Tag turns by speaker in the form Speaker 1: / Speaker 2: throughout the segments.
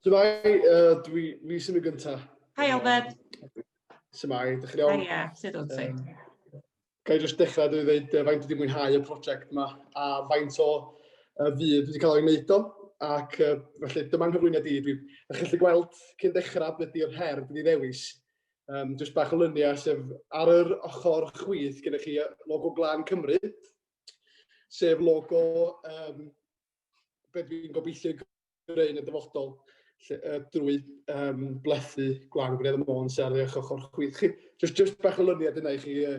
Speaker 1: Symai, uh, dwi, fi sy'n y gyntaf. Hi,
Speaker 2: Albert. Symai,
Speaker 1: dych chi'n iawn? Hi, yeah, sydd o'n ti?
Speaker 2: Ga i
Speaker 1: jyst dechrau dwi ddweud uh, faint wedi mwynhau y prosiect yma a faint o uh, fydd wedi cael ei wneud o. Ac uh, felly, dyma'n hyflwyniad i. Dwi'n gallu gweld cyn dechrau beth ydy'r her dwi'n ddewis. Um, jyst bach o lyniau sef ar yr ochr chwith gyda chi logo Glan Cymru, sef logo um, be dwi'n gobeithio greu yn y dyfodol lle, uh, drwy um, blethu gwan gwneud y môns ar eich ochr chwith chi. Just, just bach o lyniad yna i chi, uh,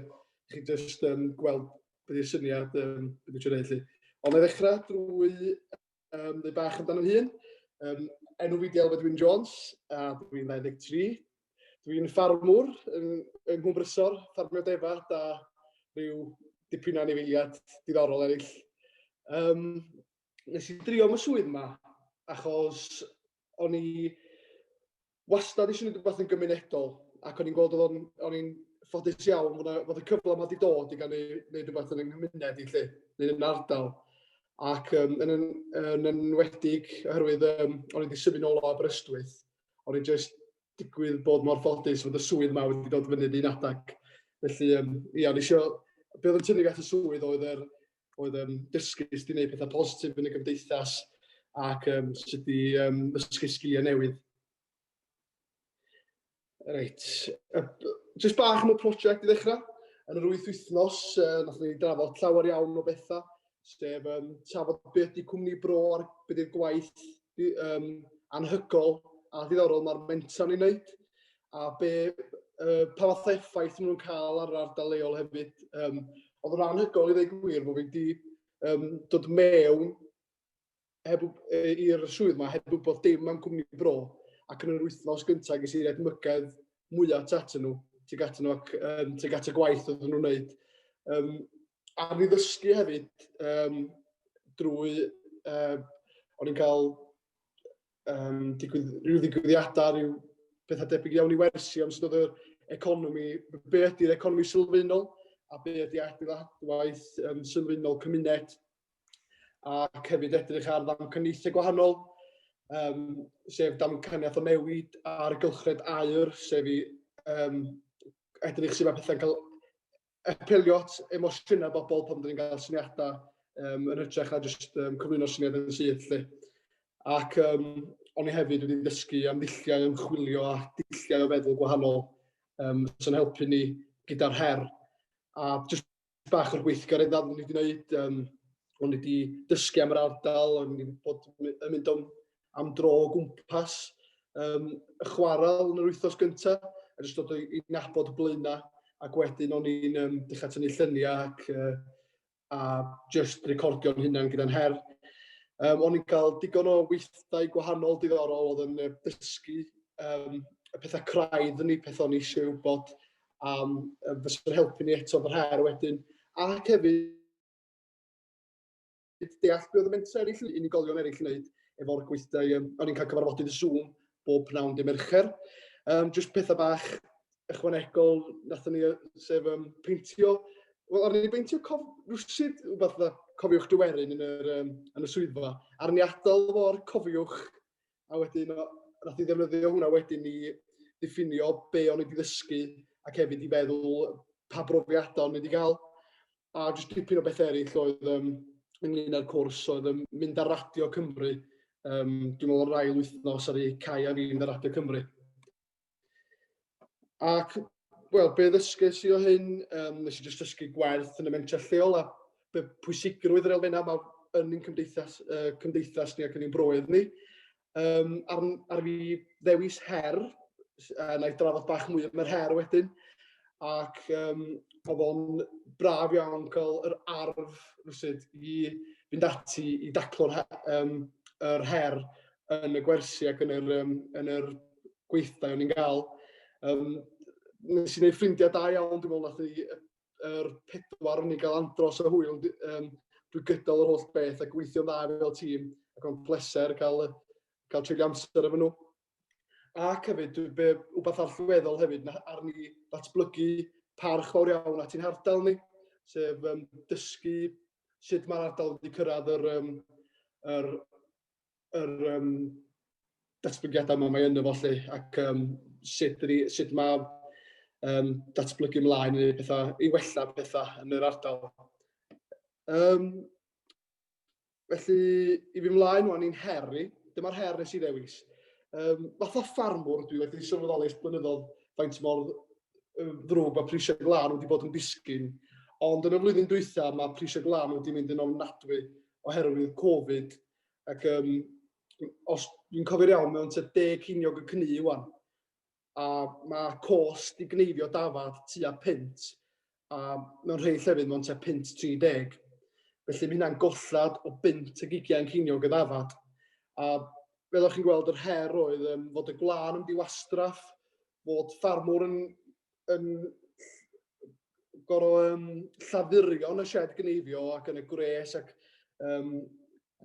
Speaker 1: chi just um, gweld beth yw'r syniad um, beth yw'r gwneud chi. Ond ei ddechrau drwy um, ddweud bach amdano'n hun. Um, enw fi Diel Fedwyn Jones, a dwi'n 23, Dwi'n ffarmwr yng, yng Nghwmbrysor, ffarmio defaid a rhyw dipyn o anifeiliad diddorol eraill. Um, nes i drio am y swydd yma, achos o'n i wastad eisiau gwneud rhywbeth yn gymunedol, ac o'n i'n gweld o'n, o'n i'n ffodus iawn fod, fod y cyfle yma wedi dod i gael gwneud rhywbeth yn yng nghymuned i lle, neu yn ardal. Ac um, yn, yn, yn enwedig oherwydd um, o'n i wedi symud nôl o Aberystwyth, o'n i jyst digwydd bod mor ffodus fod y swydd yma wedi dod fyny un adeg. Felly, um, ia, o'n i eisiau... Be oedd yn tynnu at y swydd oedd yr oedd um, dysgu sut i wneud pethau positif yn y gymdeithas ac um, sut i um, ddysgu sgiliau newydd. Reit. Just bach am y prosiect i ddechrau. Yn yr wyth wythnos, uh, nath ni drafod llawer iawn o bethau. sef um, trafod beth di cwmni bro ar beth di'r gwaith um, anhygol a ddiddorol mae'r mentor ni'n wneud a be, uh, pa fath effaith nhw'n cael ar yr ardal leol hefyd. Um, oedd yn anhygol i ddweud gwir bod fi wedi um, dod mewn heb, i'r swydd yma heb wybod dim am cwmni bro ac yn yr wythnos gyntaf ges i rhaid mygedd mwyaf tu atyn nhw, tuag atyn nhw ac um, tuag at y gwaith oedden nhw'n wneud. Um, a mi ddysgu hefyd um, drwy, uh, o'n i'n cael um, digwydd, rhyw ddigwyddiadau, rhyw bethau debyg iawn i wersi am sydd oedd yr economi, be ydy'r economi sylfaenol a be ydy adeiladwaith um, sylfaenol cymuned ac hefyd edrych ar ddamcaniaethau gwahanol, um, sef damcaniaeth o newid ar gylchred aur, sef i um, edrych sydd mae pethau'n cael apelio at emosiynau bobl pan dyn ni'n cael syniadau um, yn hytrach na jyst um, cyflwyno syniad yn syth. Lle. Ac um, o'n i hefyd wedi dysgu am ddulliau ymchwilio a dulliau o feddwl gwahanol um, sy'n helpu ni gyda'r her. A jyst bach o'r gweithgareddau o'n i wedi gwneud, um, o'n i wedi dysgu am yr ardal, o'n i wedi bod yn mynd am, am dro o gwmpas, um, chwarae yn yr wythnos gyntaf, a jyst dod i nabod y blaenau, ac wedyn o'n i'n um, dechrau tynnu lluniau ac uh, a just recordio'n hunan gyda'n her. Um, o'n i'n cael digon o weithdai gwahanol diddorol oedd yn dysgu um, y pethau craidd yn ei pethau o'n i eisiau wybod am yy fysa'n helpu ni eto fy her wedyn ac hefyd deall be' odd y mentre eryll yn unigolion eryll yn neud efo'r gweithdai yym o'n i'n ca'l cyfarfodydd y Zoom bob pnawn dy' Mercher. Yym jyst petha bach ychwanegol nathon ni yy sef yym peintio wel o'n i'n beintio cof rwsud wbath fatha cofiwch dy werin yn yr yym yn y swyddfa a'r ni atal fo'r cofiwch A wedyn o- nath 'i ddefnyddio hwnna wedyn i ddiffinio be' o'n i 'di ddysgu ac hefyd i feddwl pa brofiada o'n i 'di ga'l. A jyst dipyn o bethe eryll oedd yym ynglŷn â'r cwrs oedd yym mynd ar Radio Cymru yym dwi me'wl o'r ail wythnos aru Cai a fi mynd ar Radio Cymru. Ac, wel, be ddysges i o hyn? Um, nes i jyst dysgu gwerth yn y mentrau lleol a be pwysigrwydd yr elfennau yma yn ein cymdeithas, uh, cymdeithas ni ac yn ein broedd ni. Um, ar, ar fi ddewis her, uh, na i drafod bach mwy am yr her wedyn, ac um, oedd o'n braf iawn cael yr arf rwysid i fynd ati i daclo'r um, yr her yn y gwersi ac yn yr yym yn yr gweithdai o'n i'n ga'l. Yym nes i neud ffrindia da iawn dwi me'wl nath ni yy yr pedwar o'n i'n ga'l andros o hwyl d- yym drwy gydol yr holl beth a gweithio'n dda fel tîm ac o'n pleser ca'l yy ca'l treulio amser efo nhw. Ac hefyd dwi be' wbath allweddol hefyd na- ar ni ddatblygu parch fawr iawn at ein hardal ni sef yym dysgu sut ma'r ardal wedi cyrradd yr yym yr yr yym datblygiadau 'ma mae ynddo fo 'lly ac yym sut ydi sut ma' yym datblygu mlaen i neud petha i wella petha yn yr ardal. Yym felly i fi mlaen wan i'n her i, dyma'r her nes i ddewis. Yym fatha ffarmwr dwi wedi sylweddoli ers blynyddodd faint mor ddrwg mae prisiau glân wedi bod yn disgyn ond yn y flwyddyn dwytha mae prisiau glân wedi mynd yn ofnadwy oherwydd Covid Ac um, os dwi'n cofio'r iawn, mewn tua deg ceiniog y cnu iwan. A mae cost i gneifio dafad tua pint, a mewn rhai llefydd mewn tua pint 30. Felly mae hynna'n gollad o bint ag ugian ceiniog y dafad. A fel o'ch chi'n gweld, yr her oedd um, fod y gwlân yn diwastraff, fod ffarmwr yn yn gorfod um, llafurio yn y shed gneifio ac yn y gwres ac um,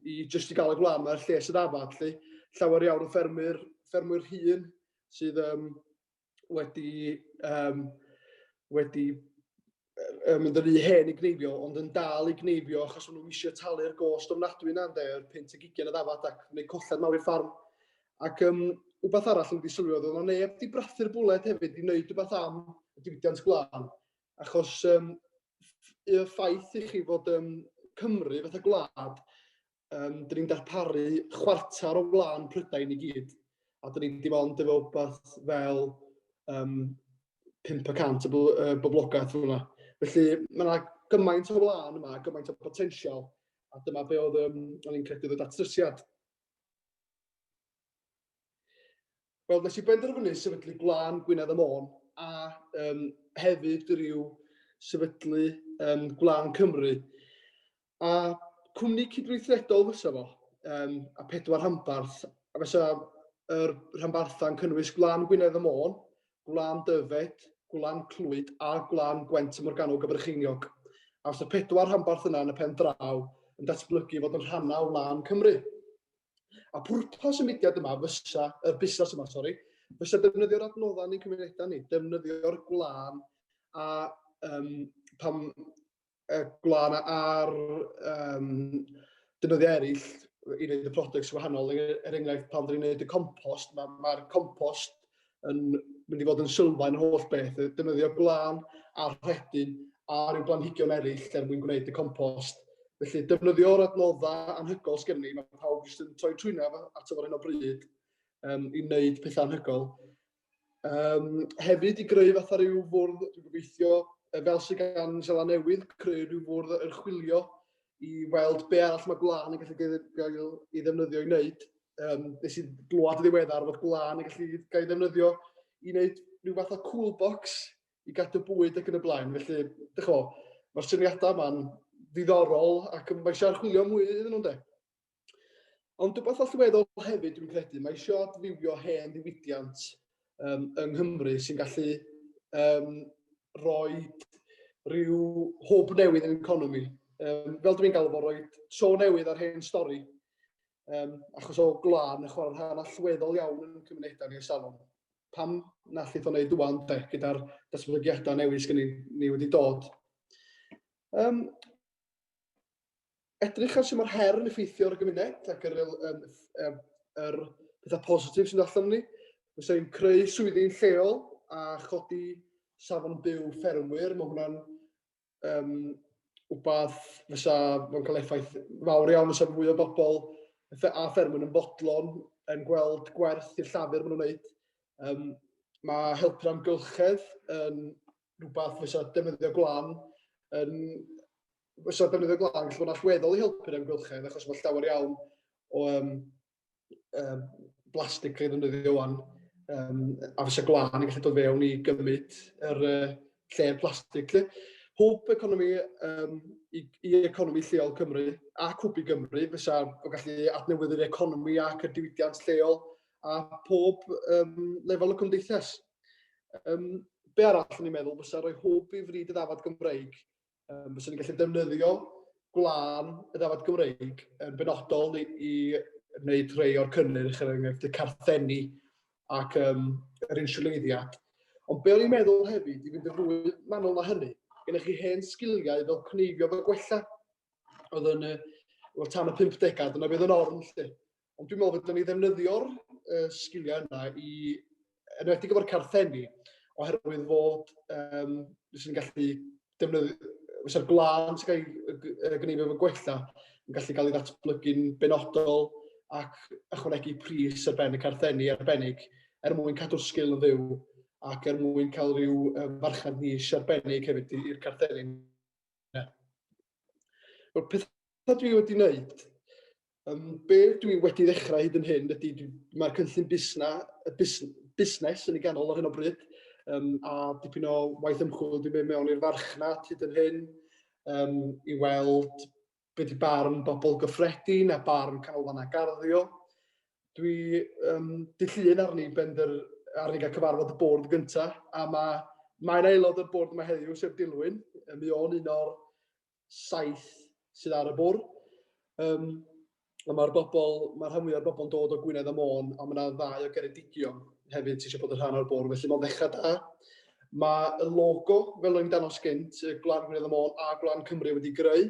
Speaker 1: i jyst i gael y gwlad mae'r lles yn afad lle llawer iawn o ffermwyr, ffermwyr hun sydd um, wedi, um, wedi yn mynd yn rhy hen i gneifio, ond yn dal i gneifio achos maen nhw eisiau talu'r gost ofnadwy yna ynde, yr pint y gigian y ddafad ac neu colled mawr i'r ffarm. Ac um, wbeth arall yn wedi sylwi oedd o'n neb di brathu'r bwled hefyd i wneud rhywbeth am y diwydiant gwlân. Achos um, y ffaith i chi fod um, Cymru fatha gwlad um, dyn ni'n darparu chwarter o flaen Prydain i gyd, a dyn ni'n dim ond efo beth fel um, 500 o uh, boblogaeth hwnna. Felly mae yna gymaint o flaen yma, gymaint o potensial, a dyma be oedd um, o'n i'n credu ddod atrysiad. Wel, nes i benderfynu sefydlu gwlân Gwynedd y Môn, a um, hefyd rhyw sefydlu um, gwlân Cymru, A cwmni cydweithredol fysa fo, um, a pedwar rhanbarth. A fysa yr rhanbarthau'n cynnwys Gwlan Gwynedd y Môn, Gwlan Dyfed, Gwlan Clwyd a Gwlan Gwent y Morgannwg a Brycheiniog. A fysa pedwar rhanbarth yna yn y pen draw yn datblygu fod yn rhannau o wlân Cymru. A pwrpas y mudiad yma fysa, y busnes yma, sori, fysa defnyddio'r adnoddau yn ein cymunedau ni, defnyddio'r gwlân a um, pam yy gwlân ar yym defnyddiau eraill i wneud y products wahanol. Er, er enghraifft, pan dwi'n gwneud y compost, mae'r ma, ma compost yn mynd i fod yn sylfaen yr holl beth. Defnyddio gwlân a rhedyn a rhyw blanhigion eraill er mwyn gwneud y compost. Felly, defnyddio'r adnoddau anhygoel sgen ni, mae pawb jyst yn troi trwyna at efo'r hyn o bryd um, i wneud pethau anhygoel. Yym, hefyd i greu fatha rhyw fwrdd, dwi'n gobeithio, fel sydd gan Sela Newydd, creu rhyw fwrdd yr chwilio i weld be arall mae gwlân yn gallu gael ei ddefnyddio i wneud. Um, nes i glwad y ddiweddar fod gwlân yn gallu gael ei ddefnyddio i wneud rhyw fath o cool box i gadw bwyd ac yn y blaen. Felly, dych o, mae'r syniadau yma'n ddiddorol ac mae eisiau archwilio mwy iddyn nhw'n de. Ond rhywbeth allweddol hefyd dwi'n credu, mae eisiau adfywio hen ddiwydiant um, yng Nghymru sy'n gallu um, roi rhyw hwb newydd yn economi. Um, fel dwi'n gael fo, roi so newydd ar hen stori, um, achos o glân y chwarae rhan allweddol iawn yn cymunedau ni salon. Pam na allith o'n neud dwan, de, gyda'r datblygiadau newydd sy'n ni, ni wedi dod. Um, edrych ar sut mae'r her yn effeithio ar y gymuned ac yr, um, um, yr pethau positif sy'n allan ni. Fysa ni'n creu swyddi'n lleol a chodi safon byw ffermwyr. Mae hwnna'n um, wbath fysa fo'n cael effaith fawr iawn fysa fwy o bobl a ffermwyr yn bodlon yn gweld gwerth i'r llafur maen nhw'n gwneud. Um, mae helpu'r amgylchedd yn rhywbeth fysa defnyddio glan yn Fysa defnyddio glaw yn gallu bod yn allweddol i helpu'r amgylchedd achos mae llawer iawn o um, um, blastig cael ei ddefnyddio wan, um, a fysa glân yn gallu dod fewn i gymryd yr uh, lle'r plastig. Lle. Hwb economi um, i, i economi lleol Cymru a cwb i Gymru fysa o gallu adnewyddu'r economi ac y diwydiant lleol a pob um, lefel y cymdeithas. Um, be arall ni'n meddwl fysa rhoi hwb i fryd y ddafod Gymreig Um, fyswn ni'n gallu defnyddio gwlân y dafod Gymreig yn benodol i, i wneud rhai o'r cynnyrch, er enghraifft y carthenni ac um, yr insiwleiddiad. Ond be o'n i'n meddwl hefyd, i fynd yn fwy manwl na hynny, gennych chi hen sgiliau fel cneifio fel gwella, oedd yn y, tan y 50au, dyna bydd yn orn lle. Ond dwi'n meddwl fydden ni ddefnyddio'r uh, sgiliau yna i, enwedig efo'r carthenni, oherwydd fod, um, fyswn ni'n gallu defnyddio, fysa'r glân sy'n cael ei gynnig efo gwella yn gallu cael ei ddatblygu'n benodol ac ychwanegu pris ar ben y carthenni arbennig er mwyn cadw'r sgil yn fyw ac er mwyn cael rhyw farchnad nis arbennig hefyd i'r carthenni. Mae'r pethau dwi wedi wneud Yym be dwi wedi ddechrau hyd yn hyn ydy mae'r cynllun busna, y bus, busnes yn ei ganol ar hyn o bryd, um, a dipyn o waith ymchwil dwi'n mynd mewn i'r farchnad hyd yn hyn um, i weld beth ydy barn bobl gyffredin a barn canolfannau garddio. Dwi um, dillun arni bender arni gael cyfarfod y bwrdd gyntaf, a mae mae'n aelod o'r bwrdd yma heddiw, sef Dilwyn. Mi o'n un o'r saith sydd ar y bwrdd. Um, a mae'r bobl, mae'r rhan fwyaf o'r bobl yn dod o Gwynedd a Môn, a mae yna ddau o Geredigion hefyd sy'n eisiau bod yn rhan o'r bwrdd, felly mae'n ddechrau da. Mae y logo, fel o'n i'n danos gynt, y Gwlan Gwynedd y Môn a Gwlan Cymru wedi greu.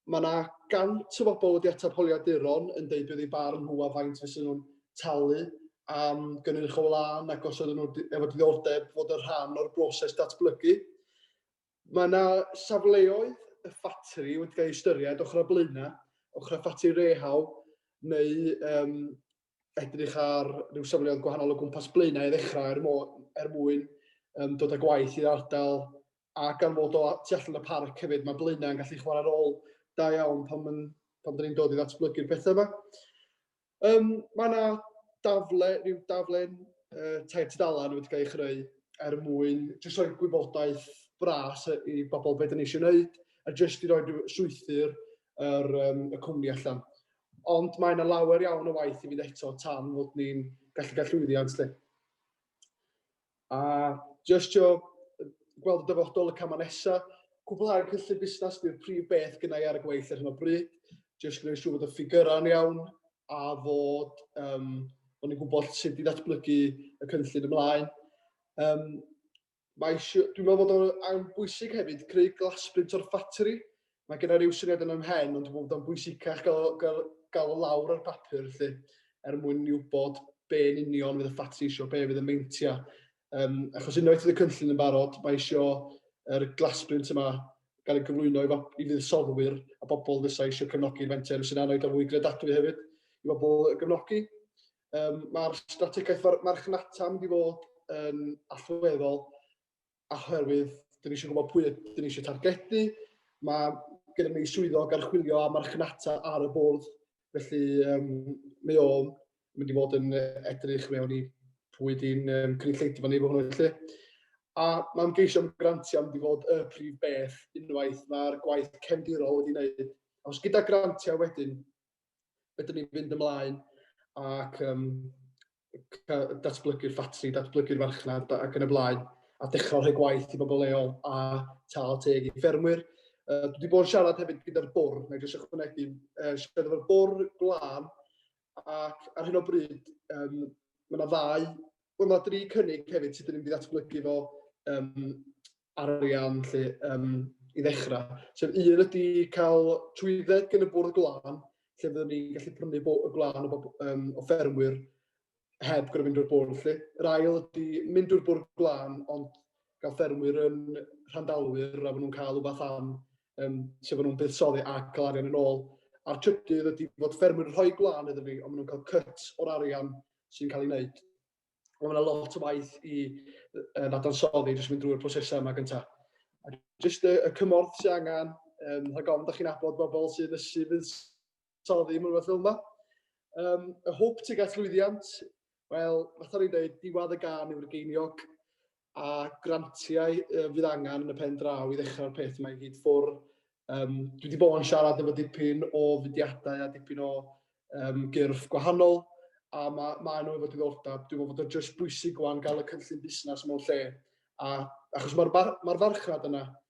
Speaker 1: Mae yna gant o bobl wedi ateb holiaduron yn deud beth ei barn nhw a faint fysa nhw'n talu am gynnyrch o wlân ac os oedden nhw efo diddordeb fod yn rhan o'r broses datblygu. Mae yna safleoedd y ffatri wedi cael eu ystyried ochr â blaenau, ochr â ffatri rehaw, neu um, edrych ar rhyw safleoedd gwahanol o gwmpas blaenau i ddechrau er, mo, er mwyn um, dod â gwaith i'r ardal a gan fod o tu allan y parc hefyd, mae blaenau yn gallu chwarae rôl da iawn pan, pan dyn ni'n dod i ddatblygu'r pethau yma. Um, mae yna dafle, rhyw daflen uh, tair tudalen wedi cael ei chreu er mwyn jyst rhoi gwybodaeth bras i bobl beth yn eisiau gwneud a jyst i roi strwythyr yr, um, y cwmni allan. Ond mae yna lawer iawn o waith i fynd eto tan fod ni'n gallu cael llwyddiant lle. A jyst trio gweld y dyfodol, y camau nesa. Cwblhau'r cynllun busnas di'r prif beth gynnai ar y gweill ar hyn o bryd. Jyst gwneud siŵr bod y ffigyrau'n iawn a fod um, bod ni'n gwybod sut i ddatblygu y cynllun ymlaen. Um, mae, dwi'n meddwl bod o'n bwysig hefyd creu glasbrint o'r ffatri Mae gen i ryw syniad yn 'y mhen ond dwi'n meddwl bod o'n bwysicach gael o gael gael o lawr ar bapur felly er mwyn ni wybod be yn union fydd y ffatri eisiau, be fydd y meintiau. Yym, achos unwaith fydd y cynllun yn barod, mae eisiau yr glasbrint yma gael ei gyflwyno i, fab- i fuddsoddwyr a bobl fysa eisiau cefnogi'r fenter, sy'n anodd o fwy gredadwy hefyd i bobl y gefnogi. Yym, Mae'r strategaeth mar- marchnata yn mynd i fod yn allweddol oherwydd dyn ni eisiau gwybod pwy dyn ni eisiau targedu. Mae gyda ni swyddog archwilio a marchnata ar y bwrdd, felly um, mae o'n mynd i fod yn edrych mewn i pwy di'n um, cynulleidfa ni fo hwnnw felly. A mae'n geisio am grantiau mynd i fod y prif beth unwaith mae'r gwaith cefndirol wedi wneud. Os gyda grantiau wedyn, Wedyn ni'n mynd ymlaen ac um, datblygu'r ffatri, datblygu'r farchnad ac yn y blaen, a dechrau rhoi gwaith i bobl leol a tal teg i ffermwyr. Uh, dwi wedi bod yn siarad hefyd gyda'r bwr, na jyst ychwanegu, uh, siarad efo'r bwr glân, ac ar hyn o bryd, um, mae yna ddau, mae yna dri cynnig hefyd sydd wedi ddatblygu fo um, arian 'lly yym i ddechra. Sef un ydy cael trwydded gen y bwrdd glân lle fyddwn ni'n gallu prynu bo- y glân o bob yym o ffermwyr heb gor'o' mynd drwy'r bwrdd 'lly. Yr ail ydy mynd drwy'r bwrdd glân ond ga'l ffermwyr yn rhandalwyr a ma' nhw'n ca'l wbath am yym sut ma' nhw'n buddsoddi ac ca'l arian yn ôl. A'r trydydd ydy fod ffermwyr yn rhoi gwlân iddyn ni ond ma' nhw'n ca'l cut o'r arian sy'n ca'l ei wneud. Mae yna lot o waith i uh, ddadansoddi, jyst mynd drwy'r prosesau yma gyntaf. A jyst y, y cymorth sy'n angen, um, rhag ofn, da chi'n abod bobl sy'n ysu fuddsoddi mewn rhywbeth fel yma. Um, y hwb tuag at lwyddiant, wel, fath o'n i'n dweud, diwad y gan yw'r geiniog. a grantiau uh, fydd angen yn y pen draw i ddechrau'r peth mae gyd ffwr. Um, dwi wedi bod yn siarad efo dipyn o fudiadau a dipyn o um, gyrff gwahanol a mae ma nhw efo diddordeb. Dwi'n meddwl bod o'n just bwysig gwan gael y cynllun busnes mewn lle a, achos mae'r mar, ma farchnad yna